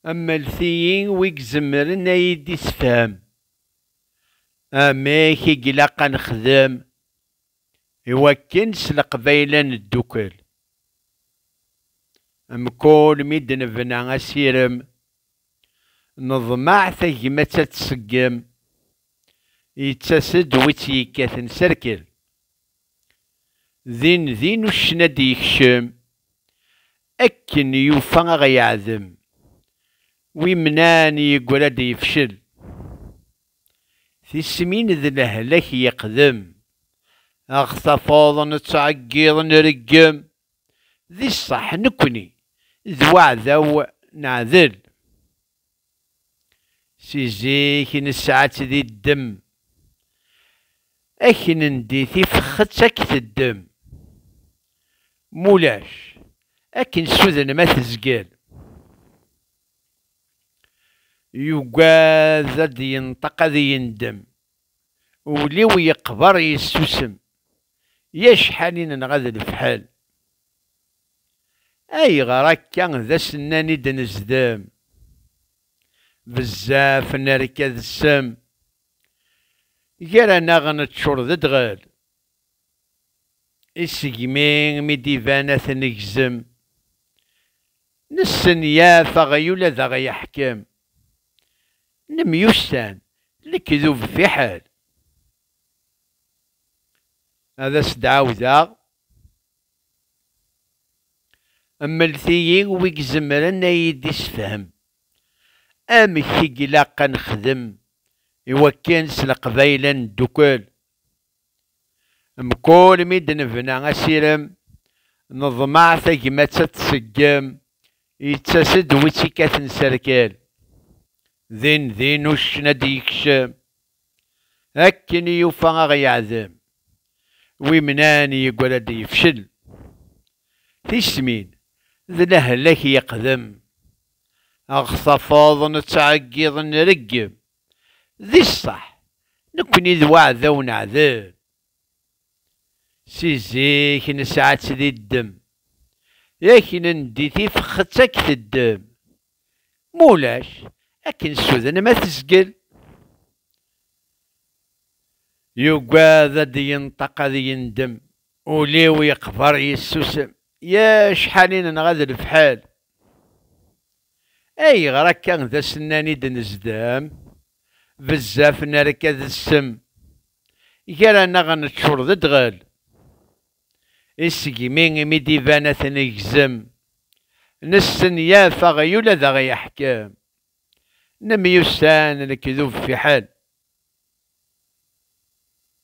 Amlet-iyi wi izemren a yi-d-isefhem amek i ilaq a nexdem i wakken s leqbayel a neddukel. Mkul mi d-nebna asirem, neḍmeɛ tagmat ad tseggem, yettas-d wi tt-yekkaten s rrkel. Din din uccen ad d-yekcem, akken yufa a ɣ-yeɛdem, wi mnan yeggra d yefcel. Tismin d lehlak yeqdem, a ɣ-tafeḍ nettɛeggiḍ nreggem, di ṣṣeḥ nekni d waɛdaw neɛdel. Si zik i nesɛa-tt di ddem, akken n di tifexet ad k-teddem. Mulac, akken suden ma tezgel. Yugad ad d-yenṭeq ad yendem, ul-iw yeqber yessusem. Yak ḥanin nɣa d lefḥel. Ayɣer akka d as-nnan i d-nezdem? Bezzaf nerka d ssem. Gar-aneɣ neččur d ddɣel. I segmi mi d-iban ad t-negzem. Nessenyaf aɣyul ad aɣ-yeḥkem. Nemyussan, lekdub fiḥel. Ad as-d-ɛawdeɣ. Mlet-iyi wi izemren ad iyi-d-isefhem amek i ilaq ad nexdem i wakken s Leqbayel ad neddukel. Mkul mi d-nebna asirem, neḍmeɛ tagmat ad tseggem, yettas-d wi tt-ikaten s rrkel. Din din uccen ad d-yekcem. Akken i yufa a ɣ-yeɛdem wimnan yeggra-d yefcel. Tismin d lehlak yeqdem ɣ tafeḍ nettɛeggiḍ nreggem. Di ṣṣeḥ nekkni d waɛdaw neɛdem. Si zik nesɛa-tt di ddem. Yak nendi tifxet a k-teddem. Ma ulac, akken ssuden ma tezgel. Yugad ad d-yenṭeq ad yendem, ul-iw yeqber yessusem, ya cḥal i nenɣa d lefḥel. Ayɣer akka d as-nnan i d-nezdem, bezzaf nerka d ssem, gar-aneɣ neččur d ddɣel. I segmi i mi d-iban ad t-negzem, nessenyaf aɣyul ad aɣ-yeḥkem, nemyussan lekdub fiḥel.